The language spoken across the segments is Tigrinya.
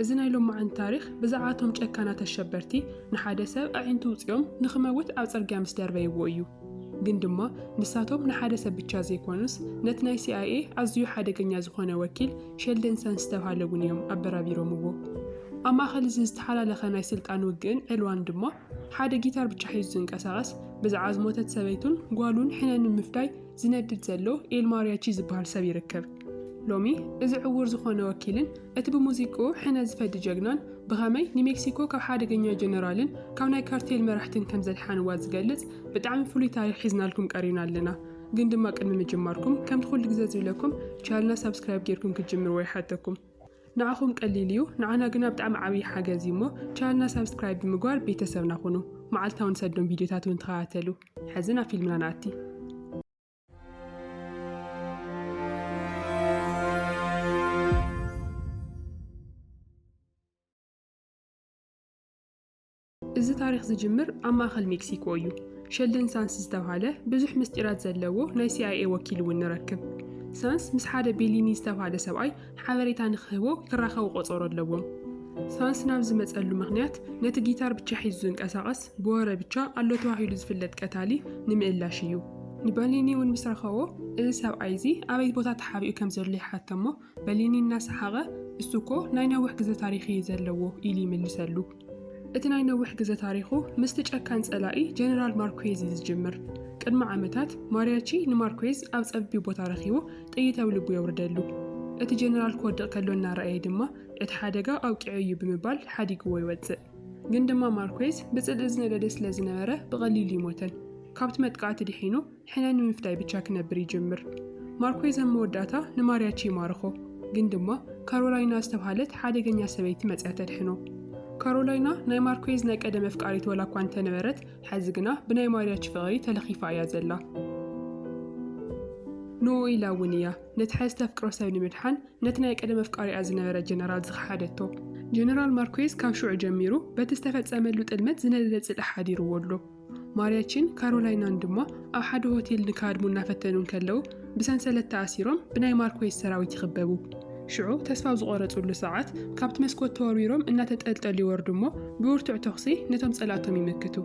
እዚ ናይ ሎማዓንቲ ታሪኽ ብዛዕባ እቶም ጨካናት ኣሸበርቲ ንሓደ ሰብ ኣዒንቱ ውጺኦም ንኽመውት ኣብ ጽርግያ ምስ ደርበይዎ እዩ። ግን ድማ ንሳቶም ንሓደ ሰብ ብቻ ዘይኮኑስ ነቲ ናይ ሲኣይኤ ኣዝዩ ሓደገኛ ዝኾነ ወኪል ሸልደን ሰንስ ዝተብሃለ እውን እዮም ኣበራቢሮምዎ። ኣብ ማእኸል እዚ ዝተሓላለኸ ናይ ስልጣን ውግእን ዕልዋን ድማ ሓደ ጊታር ብቻ ሒዙ ዝንቀሳቐስ ብዛዕባ ዝሞተት ሰበይቱን ጓሉን ሕነ ንምፍዳይ ዝነድድ ዘሎ ኤል ማርያቺ ዝበሃል ሰብ ይርከብ። ሎሚ እዚ ዕዉር ዝኾነ ወኪልን እቲ ብሙዚቅኡ ሕነ ዝፈዲ ጀግናን ብኸመይ ንሜክሲኮ ካብ ሓደገኛ ጀነራልን ካብ ናይ ካርቴል መራሕትን ከም ዘድሓንዋ ዝገልጽ ብጣዕሚ ፍሉይ ታሪኽ ሒዝናልኩም ቀሪብና ኣለና። ግን ድማ ቅድሚ ምጅማርኩም ከምቲ ኩሉ ግዘ ዝብለኩም ቻልና ሳብስክራይብ ጌርኩም ክትጅምርዎ ይሓተኩም። ንዓኹም ቀሊል እዩ ንዓና ግና ብጣዕሚ ዓብዪ ሓገዝ እዩ እሞ ቻልና ሳብስክራይብ ብምግባር ቤተሰብና ኩኑ። መዓልታውን ሰዶም ቪድዮታት እውን ተኸታተሉ። ሕዚ ናብ ፊልምና ንኣቲ። እዚ ታሪኽ ዝጅምር ኣብ ማእኸል ሜክሲኮ እዩ። ሸልደን ሳንስ ዝተብሃለ ብዙሕ ምስጢራት ዘለዎ ናይ ሲኣይኤ ወኪል እውን ንረክብ። ሳንስ ምስ ሓደ ቤሊኒ ዝተብሃለ ሰብኣይ ሓበሬታ ንኽህቦ ክራኸቡ ቆጸሮ ኣለዎም። ሳንስ ናብ ዝመጸሉ ምኽንያት ነቲ ጊታር ብቻ ሒዙ ዝንቀሳቐስ ብወረ ብቻ ኣሎ ተባሂሉ ዝፍለጥ ቀታሊ ንምእላሽ እዩ። ንበሊኒ እውን ምስ ረኸቦ እዚ ሰብኣይ እዚ ኣበይ ቦታ ተሓቢኡ ከም ዘሎ ይሓተሞ፣ በሊኒ እናሰሓቐ እሱኮ ናይ ነዊሕ ግዘ ታሪኽ እዩ ዘለዎ ኢሉ ይምልሰሉ። እቲ ናይ ነዊሕ ግዘ ታሪኹ ምስቲ ጨካን ጸላኢ ጀነራል ማርኩዌዝ እዩ ዝጅምር። ቅድሚ ዓመታት ማርያቺ ንማርኩዌዝ ኣብ ጸቢብ ቦታ ረኺቡ ጥይት ኣብ ልቡ የውርደሉ። እቲ ጀነራል ክወድቕ ከሎ እናረኣየ ድማ እቲ ሓደጋ ኣውቂዑ እዩ ብምባል ሓዲግዎ ይወጽእ። ግን ድማ ማርኩዌዝ ብጽልኢ ዝነደደ ስለዝነበረ ብቐሊሉ ይሞተን ካብቲ መጥቃዕቲ ድሒኑ ሕነ ንምፍዳይ ብቻ ክነብር ይጅምር። ማርኩዌዝ ኣብ መወዳእታ ንማርያቺ ይማርኾ፣ ግን ድማ ካሮላይና ዝተብሃለት ሓደገኛ ሰበይቲ መጺኣ ተድሕኖ። ካሮላይና ናይ ማርኩዌዝ ናይ ቀደም ኣፍቃሪት ዋላ እኳ እንተነበረት፣ ሐዚ ግና ብናይ ማርያቺ ፍቕሪ ተለኺፋ እያ ዘላ። ንኡ ኢላ እውን እያ ነቲ ሐዚ ተፍቅሮ ሰብ ንምድሓን ነቲ ናይ ቀደም ኣፍቃሪኣ ዝነበረ ጀነራል ዝኸሓደቶ። ጀነራል ማርኩዌዝ ካብ ሽዑ ጀሚሩ በቲ ዝተፈጸመሉ ጥልመት ዝነደደ ጽልኢ ሓዲርዎ ኣሎ። ማርያቺን ካሮላይናን ድማ ኣብ ሓደ ሆቴል ንክሃድሙ እናፈተኑ እንከለዉ ብሰንሰለት ተኣሲሮም ብናይ ማርኮይስ ሰራዊት ይኽበቡ። ሽዑ ተስፋ ኣብ ዝቖረጹሉ ሰዓት ካብቲ መስኮት ተወርዊሮም እናተጠልጠሉ ይወርዱ እሞ ብብርቱዕ ተኹሲ ነቶም ጸላእቶም ይምክቱ።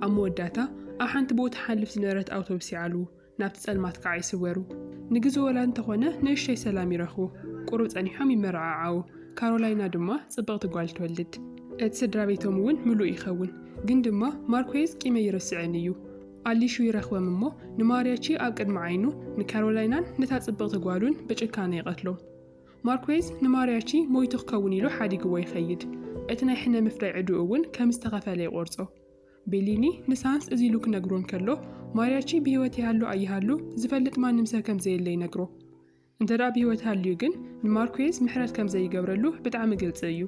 ኣብ መወዳእታ ኣብ ሓንቲ ብኡ ትሓልፍ ዝነበረት ኣውቶብስ ይዓልዉ። ናብቲ ጸልማት ከኣ ይስወሩ። ንግዜ ወላ እንተኾነ ንእሽቶይ ሰላም ይረኽቡ። ቁሩብ ጸኒሖም ይመረዓዓዉ። ካሮላይና ድማ ጽብቕቲ ጓል ትወልድ። እቲ ስድራቤቶም እውን ምሉእ ይኸውን። ግን ድማ ማርኩዌዝ ቂመይ ይርስዐኒ እዩ። ኣሊሹ ይረኽቦም እሞ ንማርያቺ ኣብ ቅድሚ ዓይኑ ንካሮላይናን ነታ ጽብቕቲ ጓሉን ብጭካነ ይቐትሎም። ማርኩዌዝ ንማርያቺ ሞይቱ ክከውን ኢሉ ሓዲግዎ ይኸይድ። እቲ ናይ ሕነ ምፍዳይ ዕድኡ እውን ከም ዝተኸፈለ ይቖርጾ። ቤሊኒ ምስ ሃንስ እዚ ኢሉ ክነግሮ እንከሎ፣ ማርያቺ ብህይወት ይሃሉ ኣይሃሉ ዝፈልጥ ማንም ሰብ ከም ዘየለ ይነግሮ። እንተድኣ ብህይወት ሃልዩ ግን፣ ንማርኩየዝ ምሕረት ከም ዘይገብረሉ ብጣዕሚ ግልጺ እዩ።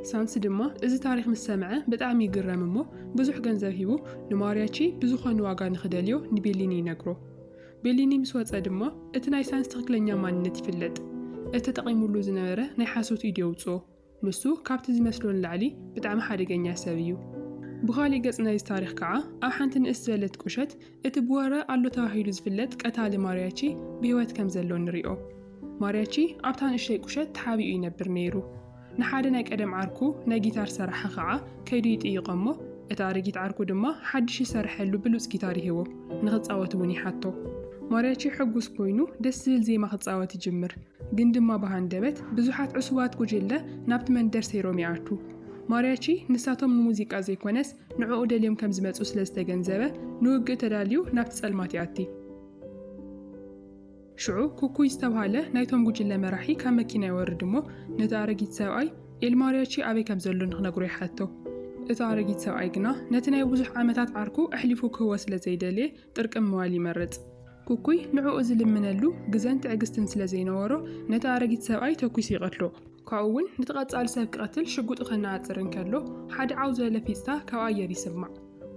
ሳንስ ድማ እዚ ታሪኽ ምስ ሰምዐ ብጣዕሚ ይግረም እሞ፣ ብዙሕ ገንዘብ ሂቡ ንማርያቺ ብዝኾነ ዋጋ ንኽደልዮ ንቤሊኒ ይነግሮ። ቤሊኒ ምስ ወጸ ድማ፣ እቲ ናይ ሳንስ ትኽክለኛ ማንነት ይፍለጥ። እቲ ተጠቒሙሉ ዝነበረ ናይ ሓሶት ኢድ የውጽኦ። ንሱ ካብቲ ዝመስሎ ንላዕሊ ብጣዕሚ ሓደገኛ ሰብ እዩ። ብኻሊእ ገጽ ናይዚ ታሪኽ ከኣ ኣብ ሓንቲ ንእስ ዝበለት ቁሸት እቲ ብወረ ኣሎ ተባሂሉ ዝፍለጥ ቀታሊ ማርያቺ ብህይወት ከም ዘሎ ንሪኦ። ማርያቺ ኣብታ ንእሽተይ ቁሸት ተሓቢኡ ይነብር ነይሩ። ንሓደ ናይ ቀደም ዓርኩ ናይ ጊታር ሰራሒ ከኣ ከይዱ ይጥይቖ እሞ እቲ ኣረጊት ዓርኩ ድማ ሓድሽ ዝሰረሐሉ ብሉጽ ጊታር ይህቦ ንኽጻወት እውን ይሓቶ። ማርያቺ ሕጉስ ኮይኑ ደስ ዝብል ዜማ ክጻወት ይጅምር። ግን ድማ ብሃንደበት ብዙሓት ዕሱባት ጉጅለ ናብቲ መንደር ሰይሮም ይኣትዉ። ማርያቺ ንሳቶም ንሙዚቃ ዘይኮነስ ንዕኡ ደልዮም ከም ዝመጽኡ ስለ ዝተገንዘበ ንውግእ ተዳልዩ ናብቲ ጸልማት ይኣቲ። ሽዑ ኩኩይ ዝተብሃለ ናይቶም ጉጅለ መራሒ ካብ መኪና ይወርድ እሞ ነቲ ኣረጊት ሰብኣይ ኤል ማርያቺ ኣበይ ከም ዘሎ ንክነግሮ ይሓቶ። እቲ ኣረጊት ሰብኣይ ግና ነቲ ናይ ብዙሕ ዓመታት ዓርኩ ኣሕሊፉ ክህቦ ስለ ዘይደልየ ጥርቅም ምባል ይመርጽ። ኩኩይ ንዕኡ ዝልምነሉ ግዘን ትዕግስትን ስለ ዘይነበሮ፣ ነቲ ኣረጊት ሰብኣይ ተኲሱ ይቐትሎ። ካብኡ እውን ነቲ ቀጻሊ ሰብ ክቐትል ሽጉጡ ከነኣጽር እንከሎ፣ ሓደ ዓው ዝበለ ፊጽታ ካብ ኣየር ይስማዕ።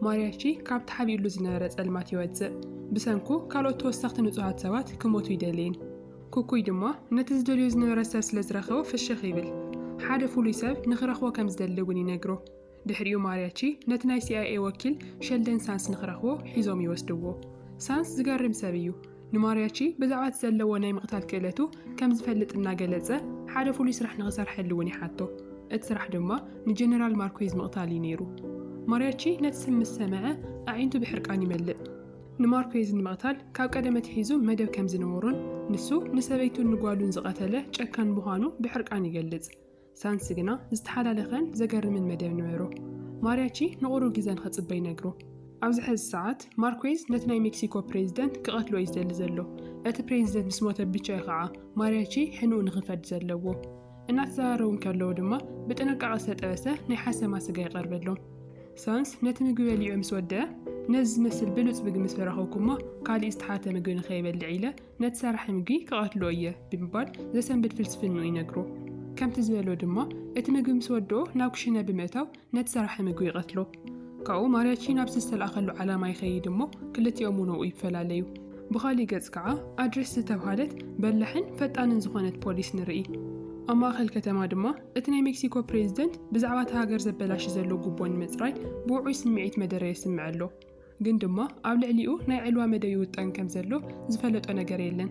ማርያቺ ካብቲ ሓቢኡሉ ዝነበረ ጸልማት ይወጽእ። ብሰንኩ ካልኦት ተወሰኽቲ ንጹሃት ሰባት ክሞቱ ኣይደልይን። ኩኩይ ድማ ነቲ ዝደልዮ ዝነበረ ሰብ ስለ ዝረኸቦ ፍሽኽ ይብል። ሓደ ፍሉይ ሰብ ንኽረኽቦ ከም ዝደሊ እውን ይነግሮ። ድሕሪኡ ማርያቺ ነቲ ናይ ሲኣይኤ ወኪል ሸልደን ሳንስ ንኽረኽቦ ሒዞም ይወስድዎ። ሳንስ ዝገርም ሰብ እዩ። ንማርያቺ ብዛዕባ እቲ ዘለዎ ናይ ምቕታል ክእለቱ ከም ዝፈልጥ እናገለጸ ሓደ ፍሉይ ስራሕ ንኽሰርሐሉ እውን ይሓቶ። እቲ ስራሕ ድማ ንጀነራል ማርኩዌዝ ምቕታል እዩ ነይሩ። ማርያቺ ነቲ ስም ምስ ሰምዐ ኣዒንቱ ብሕርቃን ይመልእ። ንማርኩዌዝ ንምቕታል ካብ ቀደም ኣትሒዙ መደብ ከም ዝነበሮን ንሱ ንሰበይቱን ንጓሉን ዝቐተለ ጨካን ምዃኑ ብሕርቃን ይገልጽ። ሳንሲ ግና ዝተሓላለኸን ዘገርምን መደብ ነበሮ። ማርያቺ ንቑሩብ ግዘ ንክጽበ ይነግሮ። ኣብዚ ሐዚ ሰዓት ማርኩዌዝ ነቲ ናይ ሜክሲኮ ፕሬዚደንት ክቐትሎ እዩ ዝደሊ ዘሎ። እቲ ፕሬዚደንት ምስ ሞተ ብቻ እዩ ኸዓ ማርያቺ ሕንኡ ንክፈርድ ዘለዎ። እናተዘራረቡ እንከለዉ ድማ ብጥንቃቐ ዝተጠበሰ ናይ ሓሰማ ስጋ ይቐርበሎም። ሳንስ ነቲ ምግቢ በሊዑ ምስ ወደኣ ነዚ ዝመስል ብሉጽ ምግቢ ምስ ረኸብኩ'ሞ ካሊእ ዝተሓተ ምግቢ ንከይበልዕ ኢለ ነቲ ሰራሒ ምግቢ ክቐትሎ እየ ብምባል ዘሰንብድ ፍልስፍንኡ ይነግሮ። ከምቲ ዝበሎ ድማ እቲ ምግቢ ምስ ወድኦ ናብ ክሽነ ብምእታው ነቲ ሰራሒ ምግቢ ይቐትሎ። ካብኡ ማርያቺ ናብቲ ዝተልኣኸሉ ዓላማ ይኸይድ እሞ ክልቲኦም እውን ኣብኡ ይፈላለዩ። ብኻሊእ ገፅ ከዓ ኣድሪስ ዝተብሃለት በላሕን ፈጣንን ዝኾነት ፖሊስ ንርኢ። ኣብ ማእኸል ከተማ ድማ እቲ ናይ ሜክሲኮ ፕሬዝደንት ብዛዕባ እታ ሃገር ዘበላሺ ዘሎ ጉቦ ንምፅራይ ብውዑይ ስምዒት መደረ የስምዕ ኣሎ። ግን ድማ ኣብ ልዕሊኡ ናይ ዕልዋ መደብ ይውጠን ከም ዘሎ ዝፈለጦ ነገር የለን።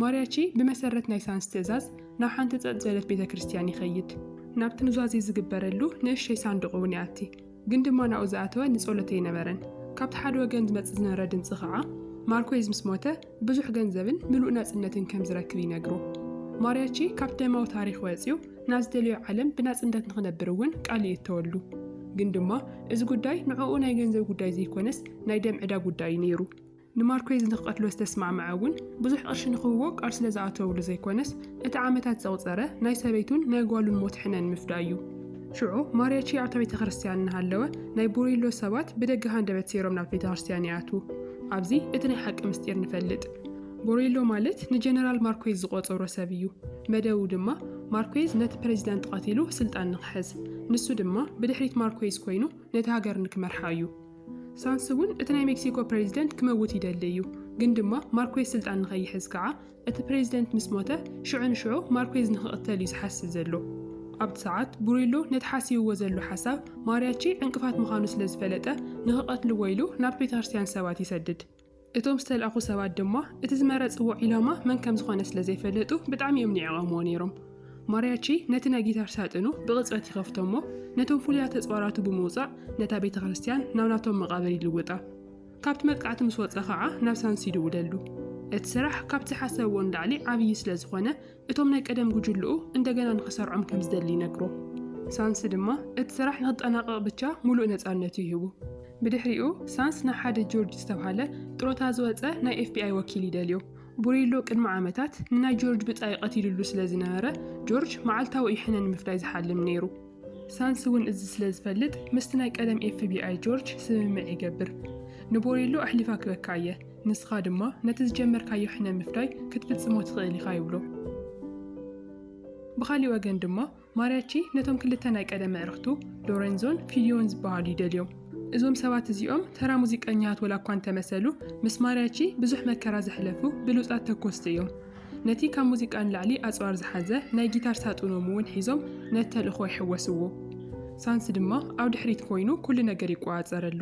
ማርያቺ ብመሰረት ናይ ሳንስ ትእዛዝ ናብ ሓንቲ ጸጥ ዘለት ቤተ ክርስቲያን ይኸይድ። ናብቲ ኑዛዜ ዝግበረሉ ንእሸይ ሳንዱቕ እውን ይኣቲ። ግን ድማ ናብኡ ዝኣተወ ንጸሎት ኣይነበረን። ካብቲ ሓደ ወገን ዝመጽእ ዝነበረ ድምጺ ኸዓ ማርኮይዝ ምስ ሞተ ብዙሕ ገንዘብን ምሉእ ናጽነትን ከም ዝረክብ ይነግሮ። ማርያቼ ካብ ደማዊ ታሪኽ ወጺኡ ናብ ዝደለዮ ዓለም ብናጽነት ንኽነብር እውን ቃል ይእተወሉ። ግን ድማ እዚ ጉዳይ ንዕኡ ናይ ገንዘብ ጉዳይ ዘይኮነስ ናይ ደም ዕዳ ጉዳይ እዩ ነይሩ። ንማርኩዌዝ ንኽቐትሎ ዝተስማዕመዐ እውን ብዙሕ ቅርሺ ንኽህቦ ቃል ስለ ዝኣተወሉ ዘይኮነስ እቲ ዓመታት ዘቑጸረ ናይ ሰበይቱን ናይ ጓሉን ሞት ሕነ ንምፍዳይ እዩ። ሽዑ ማርያቺ ኣብታ ቤተ ክርስትያን እናሃለወ ናይ ቡሪሎ ሰባት ብደገ ሃንደበት ሰይሮም ናብቲ ቤተ ክርስትያን ይኣትዉ። ኣብዚ እቲ ናይ ሓቂ ምስጢር ንፈልጥ። ቦሬሎ ማለት ንጀነራል ማርኮዝ ዝቆፀሮ ሰብ እዩ። መደቡ ድማ ማርኮዝ ነቲ ፕሬዚዳንት ቐቲሉ ስልጣን ንክሕዝ፣ ንሱ ድማ ብድሕሪት ማርኮዝ ኮይኑ ነቲ ሃገር ንክመርሓ እዩ። ሳንስ እውን እቲ ናይ ሜክሲኮ ፕሬዚደንት ክመውት ይደሊ እዩ፣ ግን ድማ ማርኮዝ ስልጣን ንከይሕዝ ከዓ እቲ ፕሬዚደንት ምስ ሞተ ሽዑ ንሽዑ ማርኩዝ ንክቕተል እዩ ዝሓስብ ዘሎ። ኣብቲ ሰዓት ቡሪሎ ነቲ ሓሲብዎ ዘሎ ሓሳብ ማሪያቺ ዕንቅፋት ምዃኑ ስለ ዝፈለጠ ንክቐትልዎ ኢሉ ናብቲ ቤተክርስትያን ሰባት ይሰድድ። እቶም ዝተላእኩ ሰባት ድማ እቲ ዝመረፅዎ ዒላማ መን ከም ዝኾነ ስለ ዘይፈለጡ ብጣዕሚ እዮም ንዒቐምዎ ነይሮም። ማሪያቺ ነቲ ናይ ጊታር ሳጥኑ ብቕፅበት ይኸፍቶ እሞ ነቶም ፍሉያት ተፅዋራቱ ብምውፃእ ነታ ቤተክርስትያን ናብ ናቶም መቓብር ይልውጣ። ካብቲ መጥቃዕቲ ምስ ወጸ ከኣ ናብ ሳንሲ ይድውለሉ። እቲ ስራሕ ካብቲ ዝሓሰብዎ ንላዕሊ ዓብዪ ስለ ዝኾነ እቶም ናይ ቀደም ጉጅልኡ እንደገና ንኽሰርዖም ከም ዝደሊ ይነግሮ። ሳንሲ ድማ እቲ ስራሕ ንኽጠናቐቕ ብቻ ሙሉእ ነጻነቱ ይህቡ። ብድሕሪኡ ሳንስ ንሓደ ጆርጅ ዝተብሃለ ጥሮታ ዝወጸ ናይ ኤፍቢኣይ ወኪል ይደልዮ። ቡሪሎ ቅድሚ ዓመታት ንናይ ጆርጅ ብጻይ ቀቲልሉ ስለ ዝነበረ ጆርጅ መዓልታዊ እዩ ሕነ ንምፍዳይ ዝሓልም ነይሩ። ሳንሲ እውን እዚ ስለ ዝፈልጥ ምስቲ ናይ ቀደም ኤፍቢኣይ ጆርጅ ስምምዕ ይገብር። ንቦሬሎ ኣሕሊፋ ክበካ እየ፣ ንስኻ ድማ ነቲ ዝጀመርካዮ ሕነ ምፍዳይ ክትፍጽሞ ትኽእል ኢኻ ይብሎ። ብኻሊእ ወገን ድማ ማርያቺ ነቶም ክልተ ናይ ቀደም ኣዕርኽቱ ሎረንዞን ፊሊዮን ዝበሃሉ ይደልዮም። እዞም ሰባት እዚኦም ተራ ሙዚቀኛታት ወላ እኳ እንተመሰሉ ምስ ማርያቺ ብዙሕ መከራ ዘሕለፉ ብሉጻት ተኮስቲ እዮም። ነቲ ካብ ሙዚቃ ንላዕሊ ኣጽዋር ዝሓዘ ናይ ጊታር ሳጡኖም እውን ሒዞም ነቲ ተልእኾ ይሕወስዎ። ሳንስ ድማ ኣብ ድሕሪት ኮይኑ ኩሉ ነገር ይቆጻጸረሉ።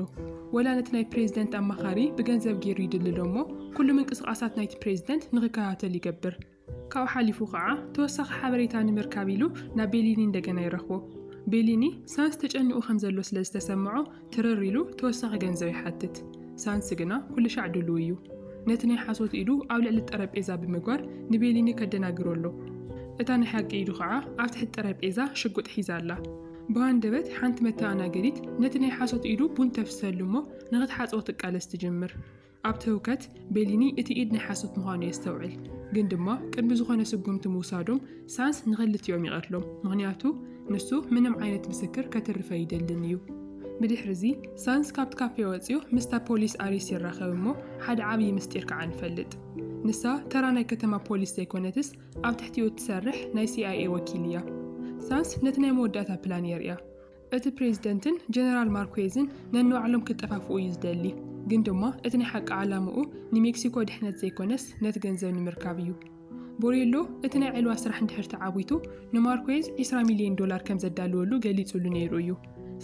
ወላ ነቲ ናይ ፕሬዚደንት ኣማኻሪ ብገንዘብ ገይሩ ይድልሎ እሞ ኩሉ ምንቅስቓሳት ናይቲ ፕሬዚደንት ንኽከታተል ይገብር። ካብኡ ሓሊፉ ከዓ ተወሳኺ ሓበሬታ ንምርካብ ኢሉ ናብ ቤሊኒ እንደገና ይረኽቦ። ቤሊኒ ሳንስ ተጨኒቑ ከምዘሎ ስለዝተሰምዖ ትርር ኢሉ ተወሳኺ ገንዘብ ይሓትት፣ ሳንሲ ግና ኩልሻዕ ድሉው እዩ። ነቲ ናይ ሓሶት ኢዱ ኣብ ልዕሊ ጠረጴዛ ብምግባር ንቤሊኒ ከደናግሮ ኣሎ። እታ ናይ ሓቂ ኢዱ ኸዓ ኣብ ትሕቲ ጠረጴዛ ሽጉጥ ሒዛ ኣላ። ብሃንደበት ሓንቲ መተኣናገዲት ነቲ ናይ ሓሶት ኢዱ ቡን ተፍስሰሉ እሞ ንኽትሓጽቦ ትቃለስ ትጅምር። ኣብቲ ህውከት፣ ቤሊኒ እቲ ኢድ ናይ ሓሶት ምዃኑ የስተውዕል፣ ግን ድማ ቅድሚ ዝኾነ ስጉምቲ ምውሳዶም ሳንስ ንኽልቲኦም ይቐትሎም፣ ምኽንያቱ ንሱ ምንም ዓይነት ምስክር ከትርፍ ኣይደልን እዩ። ብድሕርዚ፣ ሳንስ ካብቲ ካፌ ወጺኡ ምስታ ፖሊስ ኣሪስ ይራኸብ እሞ ሓደ ዓብዪ ምስጢር ከኣ ንፈልጥ። ንሳ ተራ ናይ ከተማ ፖሊስ ዘይኮነትስ ኣብ ትሕቲኡ እትሰርሕ ናይ ሲኣይኤ ወኪል እያ። ሳንስ ነቲ ናይ መወዳእታ ፕላን የርእያ። እቲ ፕሬዝደንትን ጀነራል ማርኩዌዝን ነንባዕሎም ክጠፋፍኡ እዩ ዝደሊ። ግን ድማ እቲ ናይ ሓቂ ዓላምኡ ንሜክሲኮ ድሕነት ዘይኮነስ ነቲ ገንዘብ ንምርካብ እዩ። ቦሬሎ እቲ ናይ ዕልዋ ስራሕ እንድሕር ተዓዊቱ ንማርኩዌዝ ዕስራ ሚልየን ዶላር ከም ዘዳልወሉ ገሊጹሉ ነይሩ እዩ።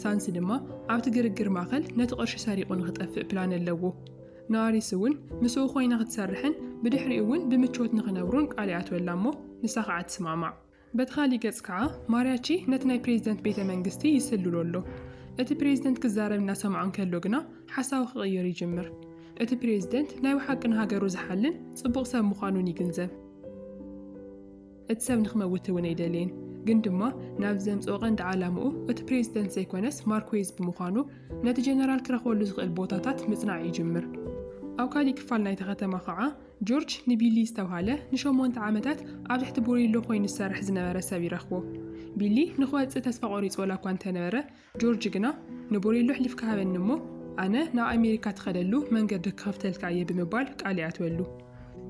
ሳንስ ድማ ኣብቲ ግርግር ማእከል ነቲ ቅርሺ ሰሪቑ ንኽጠፍእ ፕላን ኣለዎ። ንኣሪስ እውን ምስኡ ኮይና ክትሰርሕን ብድሕሪኡ እውን ብምቾት ንኽነብሩን ቃል ይኣትወላ እሞ ንሳ ኸኣ ትስማዕማዕ። በቲ ኻሊእ ገፅ ከዓ ማሪያቺ ነቲ ናይ ፕሬዚደንት ቤተ መንግስቲ ይስልሎ ኣሎ። እቲ ፕሬዚደንት ክዛረብ እናሰምዖ እንከሎ ግና ሓሳቡ ክቕይር ይጅምር። እቲ ፕሬዚደንት ናይ ብሓቂ ንሃገሩ ዝሓልን ፅቡቕ ሰብ ምዃኑን ይግንዘብ። እቲ ሰብ ንክመውት እውን ኣይደለየን። ግን ድማ ናብዚ ዘምፅኦ ቀንዲ ዓላምኡ እቲ ፕሬዚደንት ዘይኮነስ ማርኩዌዝ ብምዃኑ ነቲ ጀነራል ክረኽበሉ ዝኽእል ቦታታት ምፅናዕ ይጅምር። ኣብ ካሊእ ክፋል ናይታ ከተማ ከዓ ጆርጅ ንቢሊ ዝተብሃለ ንሸሞንተ ዓመታት ኣብ ትሕቲ ቡሪሎ ኰይኑ ዝሰርሕ ዝነበረ ሰብ ይረኽቦ። ቢሊ ንኽወጽእ ተስፋ ቈሪጹ ዋላ እኳ እንተ ነበረ፣ ጆርጅ ግና፣ ንቡሪሎ ኣሕሊፍካ ሃበኒ እሞ፣ ኣነ ናብ ኣሜሪካ እትኸደሉ መንገዲ ክኸፍተልካ እየ ብምባል ቃል ይኣትወሉ።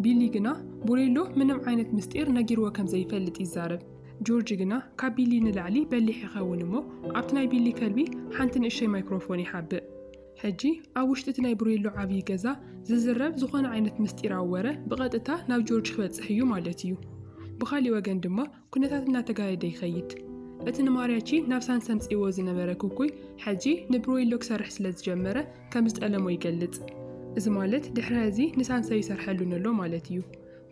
ቢሊ ግና፣ ቡሪሎ ምንም ዓይነት ምስጢር ነጊርዎ ከም ዘይፈልጥ ይዛረብ። ጆርጅ ግና ካብ ቢሊ ንላዕሊ በሊሕ ይኸውን እሞ፣ ኣብቲ ናይ ቢሊ ከልቢ ሓንቲ ንእሽቶይ ማይክሮፎን ይሓብእ። ሕጂ ኣብ ውሽጢ እቲ ናይ ብሬሎ ዓብዪ ገዛ ዝዝረብ ዝኾነ ዓይነት ምስጢራዊ ወረ ብቐጥታ ናብ ጆርጅ ክበጽሕ እዩ ማለት እዩ። ብኻሊእ ወገን ድማ ኩነታት እናተጋደደ ይኸይድ። እቲ ንማርያቺ ናብ ሳን ሰምጺእዎ ዝነበረ ኩኩይ ሕጂ ንብሬሎ ክሰርሕ ስለ ዝጀመረ ከም ዝጠለሞ ይገልጽ። እዚ ማለት ድሕሪ ሀዚ ንሳንሰ ይሰርሐሉን ኣሎ ማለት እዩ።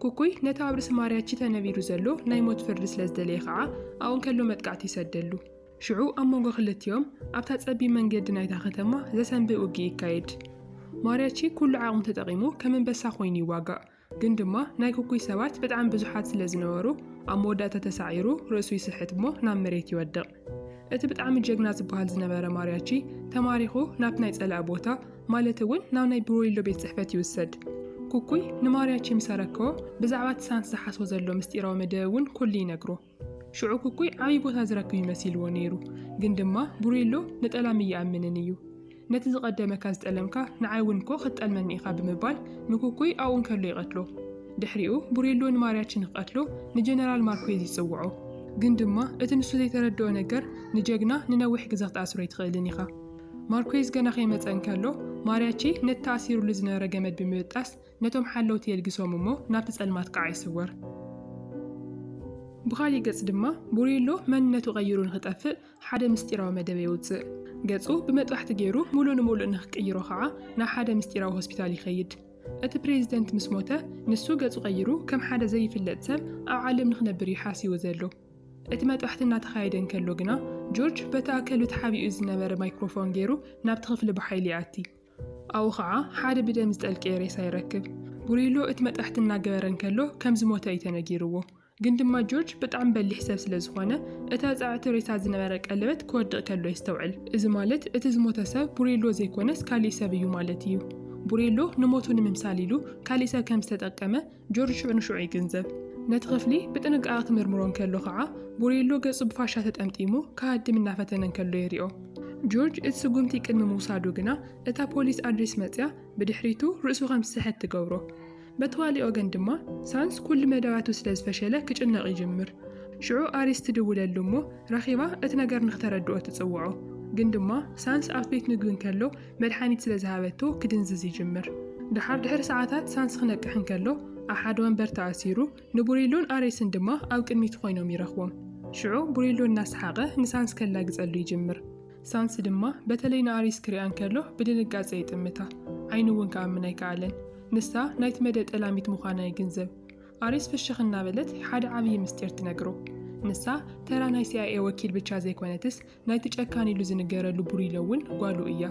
ኩኩይ ነቲ ኣብ ርእሲ ማርያቺ ተነቢሩ ዘሎ ናይ ሞት ፍርዲ ስለ ዝደለየ ኸዓ ኣብኡ እንከሎ መጥቃዕቲ ይሰደሉ። ሽዑ ኣብ መንጎ ክልቲኦም ኣብታ ጸቢብ መንገዲ ናይታ ከተማ ዘሰንብእ ውግእ ይካየድ። ማርያቺ ኩሉ ዓቕሙ ተጠቒሙ ከም እንበሳ ኮይኑ ይዋጋእ፣ ግን ድማ ናይ ኩኩይ ሰባት በጣዕሚ ብዙሓት ስለ ዝነበሩ ኣብ መወዳእታ ተሳዒሩ ርእሱ ይስሕት እሞ ናብ መሬት ይወድቕ። እቲ ብጣዕሚ ጀግና ዝበሃል ዝነበረ ማርያቺ ተማሪኹ ናብቲ ናይ ጸላኢ ቦታ ማለት እውን ናብ ናይ ብሮይሎ ቤት ጽሕፈት ይውሰድ። ኩኩይ ንማርያቺ ምስ ኣረከቦ ብዛዕባ እቲ ሳንት ዝሓስቦ ዘሎ ምስጢራዊ መደብ እውን ኩሉ ይነግሮ። ሽዑ ኩኩይ ዓብዪ ቦታ ዝረክብ እዩ መሲልዎ ነይሩ። ግን ድማ ቡሬሎ ንጠላም እይኣምንን እዩ። ነቲ ዝቐደመካ ዝጠለምካ ንዓይ እውን እኮ ክትጠልመኒ ኢኻ ብምባል ንኩኩይ ኣብኡ እንከሎ ይቐትሎ። ድሕሪኡ ቡሬሎ ንማርያቺ ንክቐትሎ ንጀነራል ማርኩዌዝ ይጽውዖ። ግን ድማ እቲ ንሱ ዘይተረድኦ ነገር ንጀግና ንነዊሕ ግዘ ክትኣስሮ ኣይትኽእልን ኢኻ። ማርኩዌዝ ገና ከይመጸ እንከሎ ማርያቺ ነቲ ተኣሲሩሉ ዝነበረ ገመድ ብምብጣስ ነቶም ሓለውቲ የልግሶም እሞ ናብቲ ጸልማት ከኣ ይስወር። ብኻሊእ ገጽ ድማ ቡሬሎ መንነቱ ቀይሩ ንኽጠፍእ ሓደ ምስጢራዊ መደበ የውጽእ። ገጹ ብመጥባሕቲ ገይሩ ምሉእ ንምሉእ ንኽቅይሮ ከኣ ናብ ሓደ ምስጢራዊ ሆስፒታል ይኸይድ። እቲ ፕሬዚደንት ምስ ሞተ ንሱ ገጹ ቀይሩ ከም ሓደ ዘይፍለጥ ሰብ ኣብ ዓለም ንኽነብር እዩ ሓሲቡ ዘሎ። እቲ መጥባሕቲ እናተኻየደ እንከሎ ግና ጆርጅ በቲ ኣከሉ ተሓቢኡ ዝነበረ ማይክሮፎን ገይሩ ናብቲ ክፍሊ ብሓይሊ ይኣቲ። ኣብኡ ኸዓ ሓደ ብደም ዝጠልቀየ ሬሳ ይረክብ። ጉሪሎ እቲ መጥባሕቲ እናገበረ እንከሎ ከም ዝሞተ እዩ ተነጊርዎ። ግን ድማ ጆርጅ ብጣዕሚ በሊሕ ሰብ ስለ ዝኾነ እታ ጸዕቲ ሬሳ ዝነበረ ቀለበት ክወድቕ ከሎ የስተውዕል። እዚ ማለት እቲ ዝሞተ ሰብ ቡሬሎ ዘይኮነስ ካሊእ ሰብ እዩ ማለት እዩ። ቡሬሎ ንሞቱ ንምምሳል ኢሉ ካሊእ ሰብ ከም ዝተጠቀመ ጆርጅ ሽዑ ንሽዑ ይግንዘብ። ነቲ ክፍሊ ብጥንቃቐ ክምርምሮ እንከሎ ኸዓ፣ ቡሬሎ ገጹ ብፋሻ ተጠምጢሙ ክሃድም እናፈተነ እንከሎ የሪኦ። ጆርጅ እቲ ስጉምቲ ቅድሚ ምውሳዱ ግና፣ እታ ፖሊስ ኣድሪስ መጺኣ ብድሕሪቱ ርእሱ ከም ዝስሕት ትገብሮ። በቲ ካልእ ወገን ድማ፣ ሳንስ ኩሉ መደባቱ ስለ ዝፈሸለ ክጭነቕ ይጅምር። ሽዑ ኣሪስ ትድውለሉ እሞ ረኺባ እቲ ነገር ንክተረድኦ ትጽውዖ። ግን ድማ ሳንስ ኣብቲ ቤት ምግቢ እንከሎ፣ መድሓኒት ስለ ዝሃበቶ ክድንዝዝ ይጅምር። ደሓር ድሕሪ ሰዓታት ሳንስ ክነቅሕ እንከሎ ኣብ ሓደ ወንበር ተኣሲሩ ንቡሪሎን ኣሬስን ድማ ኣብ ቅድሚቱ ኮይኖም ይረኽቦም። ሽዑ ቡሪሎ እናሰሓቐ ንሳንስ ከላግጸሉ ይጅምር። ሳንስ ድማ በተለይ ንኣሬስ ክሪኣ እንከሎ ብድንጋጸ ይጥምታ። ዓይኑ እውን ክኣምን ኣይከኣለን። ንሳ ናይቲ መደ ጠላሚት ምዃና ይግንዘብ። ኣሬስ ፍሽኽ እናበለት ሓደ ዓብዪ ምስጢር ትነግሮ። ንሳ ተራ ናይ ሲኣይኤ ወኪል ብቻ ዘይኮነትስ ናይቲ ጨካን ኢሉ ዝንገረሉ ቡሪሎ እውን ጓሉ እያ።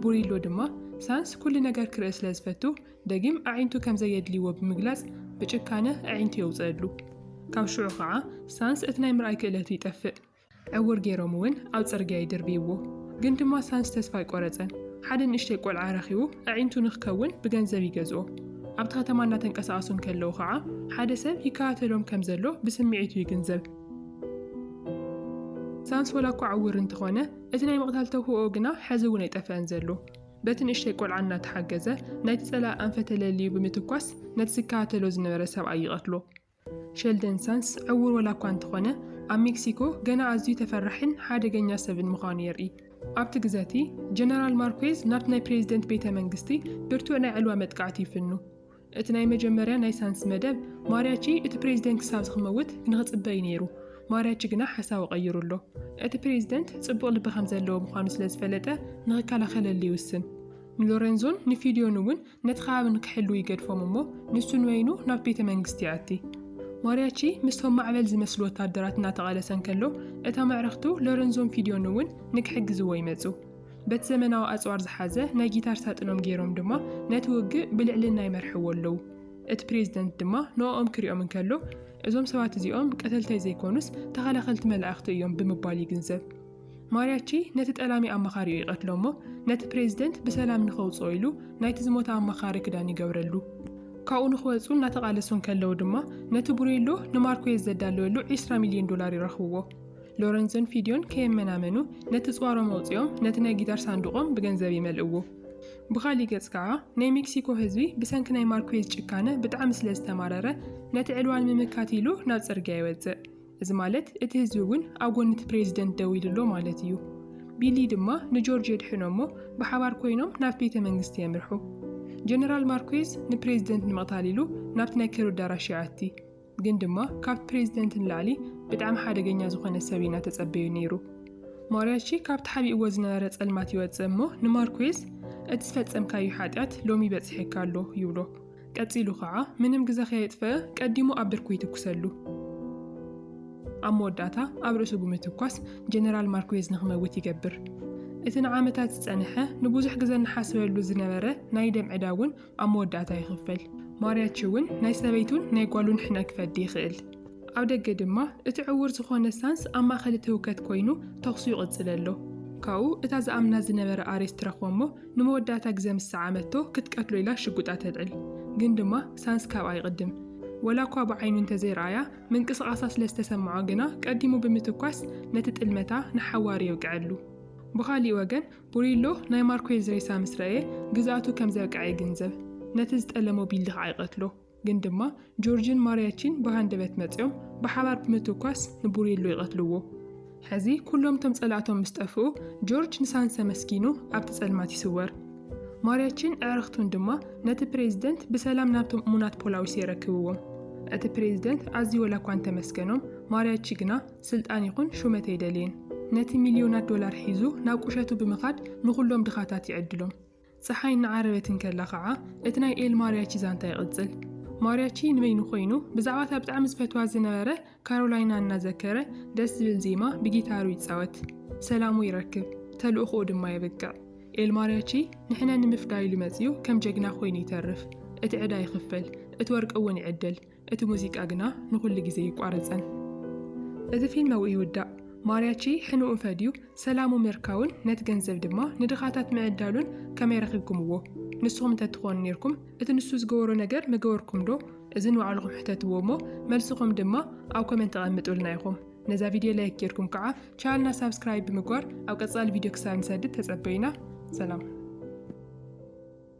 ቡሪሎ ድማ ሳንስ ኩሉ ነገር ክርኢ ስለ ዝፈቱ ደጊም ኣዒንቱ ከም ዘየድልይዎ ብምግላጽ ብጭካነ ኣዒንቱ የውጽእሉ። ካብ ሽዑ ኸዓ ሳንስ እቲ ናይ ምርኣይ ክእለቱ ይጠፍእ። ዕውር ገይሮም እውን ኣብ ጽርግያ ይድርብይዎ። ግን ድማ ሳንስ ተስፋ ኣይቆረጸን። ሓደ ንእሽተይ ቆልዓ ረኺቡ ኣዒንቱ ንክከውን ብገንዘብ ይገዝኦ። ኣብቲ ከተማ እናተንቀሳቐሱ እንከለዉ ኸዓ ሓደ ሰብ ይከታተሎም ከም ዘሎ ብስምዒቱ ይግንዘብ። ሳንስ ወላ እኳ ዕዉር እንተኾነ፣ እቲ ናይ ምቕታል ተውህቦኡ ግና ሐዚ እውን ኣይጠፍአን ዘሎ። በቲ ንእሽተይ ቆልዓ እናተሓገዘ ናይቲ ፀላኢ ኣንፈት ተለልዩ ብምትኳስ ነቲ ዝከታተሎ ዝነበረ ሰብኣይ ይቐትሎ። ሸልደን ሳንስ ዕዉር ወላ እኳ እንተኾነ፣ ኣብ ሜክሲኮ ገና ኣዝዩ ተፈራሒን ሓደገኛ ሰብን ምዃኑ የርኢ። ኣብቲ ግዘ እቲ፣ ጀነራል ማርኩዌዝ ናብቲ ናይ ፕሬዝደንት ቤተ መንግስቲ ብርቱዕ ናይ ዕልዋ መጥቃዕቲ ይፍኑ። እቲ ናይ መጀመርያ ናይ ሳንስ መደብ ማርያቺ እቲ ፕሬዝደንት ክሳብ ዝክመውት ንክጽበ እዩ ነይሩ። ማርያቺ ግና ሓሳቡ ቀይሩ ኣሎ። እቲ ፕሬዝደንት ጽቡቕ ልቢ ከም ዘለዎ ምዃኑ ስለ ዝፈለጠ ንክከላኸለሉ ይውስን። ንሎረንዞን ንፊልዮን እውን ነቲ ከባቢ ንክሕልዉ ይገድፎም እሞ ንሱ ንበይኑ ናብ ቤተ መንግስቲ ይኣቲ። ማርያቺ ምስቶም ማዕበል ዝመስሉ ወታደራት እናተቓለሰ እንከሎ እታ መዕርኽቱ ሎረንዞን ፊልዮን እውን ንክሕግዝዎ ይመጹ። በቲ ዘመናዊ ኣጽዋር ዝሓዘ ናይ ጊታር ሳጥኖም ገይሮም ድማ ነቲ ውግእ ብልዕልና ይመርሕዎ ኣለዉ። እቲ ፕሬዚደንት ድማ ንኦኦም ክሪኦም እንከሎ እዞም ሰባት እዚኦም ቀተልተይ ዘይኮኑስ ተኸላኸልቲ መላእኽቲ እዮም ብምባል ይግንዘብ። ማሪያቺ ነቲ ጠላሚ ኣማኻሪኡ ይቐትሎ እሞ ነቲ ፕሬዚደንት ብሰላም ንኸውጽኦ ኢሉ ናይቲ ዝሞተ ኣማኻሪ ክዳን ይገብረሉ። ካብኡ ንኽወጹ እናተቓለሱ እንከለዉ ድማ ነቲ ቡሬሎ ንማርኩዌዝ ዘዳለወሉ ዕስራ ሚልዮን ዶላር ይረኽብዎ። ሎረንዞን ፊድዮን ከየመናመኑ ነቲ ጽዋሮም ኣውጺኦም ነቲ ናይ ጊታር ሳንዱቖም ብገንዘብ ይመልእዎ። ብኻሊእ ገጽ ከኣ ናይ ሜክሲኮ ህዝቢ ብሰንኪ ናይ ማርኩዌዝ ጭካነ ብጣዕሚ ስለ ዝተማረረ ነቲ ዕልዋ ንምምካት ኢሉ ናብ ጽርግያ ይወጽእ። እዚ ማለት እቲ ህዝቢ እውን ኣብ ጎኒ እቲ ፕሬዚደንት ደው ኢሉ ኣሎ ማለት እዩ። ቢሊ ድማ ንጆርጅ የድሕኖ እሞ ብሓባር ኮይኖም ናብቲ ቤተ መንግስቲ የምርሑ። ጀነራል ማርኩዌዝ ንፕሬዚደንት ንምቕታል ኢሉ ናብቲ ናይ ክብሪ ኣዳራሽ ይኣቲ። ግን ድማ ካብ ፕሬዝደንት ንላዕሊ ብጣዕሚ ሓደገኛ ዝኾነ ሰብ ኢና ተጸበዩ ነይሩ። ማርያቺ ካብ ተሓቢእዎ ዝነበረ ጸልማት ይወጽእ እሞ ንማርኩዌዝ እቲ ዝፈጸምካዩ ሓጢኣት ሎሚ በጺሒካ ኣሎ ይብሎ። ቀጺሉ ኸዓ ምንም ግዘ ከየጥፈኣ ቀዲሙ ኣብ ብርኩ ይትኩሰሉ። ኣብ መወዳእታ ኣብ ርእሱ ብምትኳስ ጀነራል ማርኩዌዝ ንኽመውት ይገብር። እቲ ንዓመታት ዝጸነሐ ንቡዙሕ ግዘ ንሓስበሉ ዝነበረ ናይ ደም ዕዳ እውን ኣብ መወዳእታ ይኽፈል። ማርያቺ እውን ናይ ሰበይቱን ናይ ጓሉን ሕነ ክፈዲ ይኽእል። ኣብ ደገ ድማ እቲ ዕዉር ዝኾነ ሳንስ ኣብ ማእኸል እቲ ህውከት ኮይኑ ተኹሱ ይቕፅል ኣሎ። ካብኡ እታ ዝኣምና ዝነበረ ኣሬስ ትረኽቦ እሞ ንመወዳእታ ግዘ ምስ ሰዓመቶ ክትቀትሎ ኢላ ሽጉጣ ተልዕል። ግን ድማ ሳንስ ካብኣ ይቕድም። ወላ እኳ ብዓይኑ እንተዘይረኣያ ምንቅስቓሳ ስለ ዝተሰመዖ ግና ቀዲሙ ብምትኳስ ነቲ ጥልመታ ንሓዋሩ የውቅዐሉ። ብኻሊእ ወገን ኡሪሎ ናይ ማርኮየዝ ሬሳ ምስ ረኣየ ግዝኣቱ ከም ዘብቅዐ ይግንዘብ። ነቲ ዝጠለሞ ቢልዲ ኸኣ ይቐትሎ። ግን ድማ ጆርጅን ማርያቺን ብሃንደበት መጺኦም ብሓባር ብምትኳስ ንቡሪሎ ይቐትልዎ። ሕዚ ኩሎም እቶም ጸላእቶም ምስ ጠፍኡ ጆርጅ ንሳንሰ መስኪኑ ኣብቲ ጸልማት ይስወር። ማርያቺን ኣዕርኽቱን ድማ ነቲ ፕሬዚደንት ብሰላም ናብቶም እሙናት ፖላዊስ የረክብዎም። እቲ ፕሬዚደንት ኣዝዩ ወላኳ እንተመስገኖም ማርያቺ ግና ስልጣን ይኹን ሹመት ኣይደልይን። ነቲ ሚልዮናት ዶላር ሒዙ ናብ ቁሸቱ ብምኻድ ንኹሎም ድኻታት ይዕድሎም። ጸሓይ እናዓረበት እንከላ ኸዓ እቲ ናይ ኤል ማርያቺ ዛንታ ይቕጽል። ማርያቺ ንበይኑ ኮይኑ ብዛዕባ እታ ብጣዕሚ ዝፈትዋ ዝነበረ ካሮላይና እናዘከረ ደስ ዝብል ዜማ ብጊታሩ ይጻወት። ሰላሙ ይረክብ። ተልእኾኡ ድማ የብቅዕ። ኤል ማርያቺ ንሕነ ንምፍዳይ ኢሉ መጺኡ ከም ጀግና ኮይኑ ይተርፍ። እቲ ዕዳ ይኽፈል። እቲ ወርቂ እውን ይዕደል። እቲ ሙዚቃ ግና ንኹሉ ግዜ ኣይቋረጸን። እቲ ፊልም ኣብኡ ይውዳእ። ማርያቺ ሕንኡ ፈድዩ ሰላሙ ምርካቡን ነቲ ገንዘብ ድማ ንድኻታት ምዕዳሉን ከመይ ረኺብኩምዎ? ንስኹም እንተ ትኾኑ ኔርኩም እቲ ንሱ ዝገበሮ ነገር ምገበርኩምዶ? እዚ ንባዕልኹም ሕተትዎ እሞ መልስኹም ድማ ኣብ ኮመንት ኣቐምጡልና ኢኹም። ነዛ ቪድዮ ላይክ ጌርኩም ከዓ ቻልና ሳብስክራይብ ብምግባር ኣብ ቀጻሊ ቪድዮ ክሳብ ንሰድድ ተጸበዩና። ሰላም።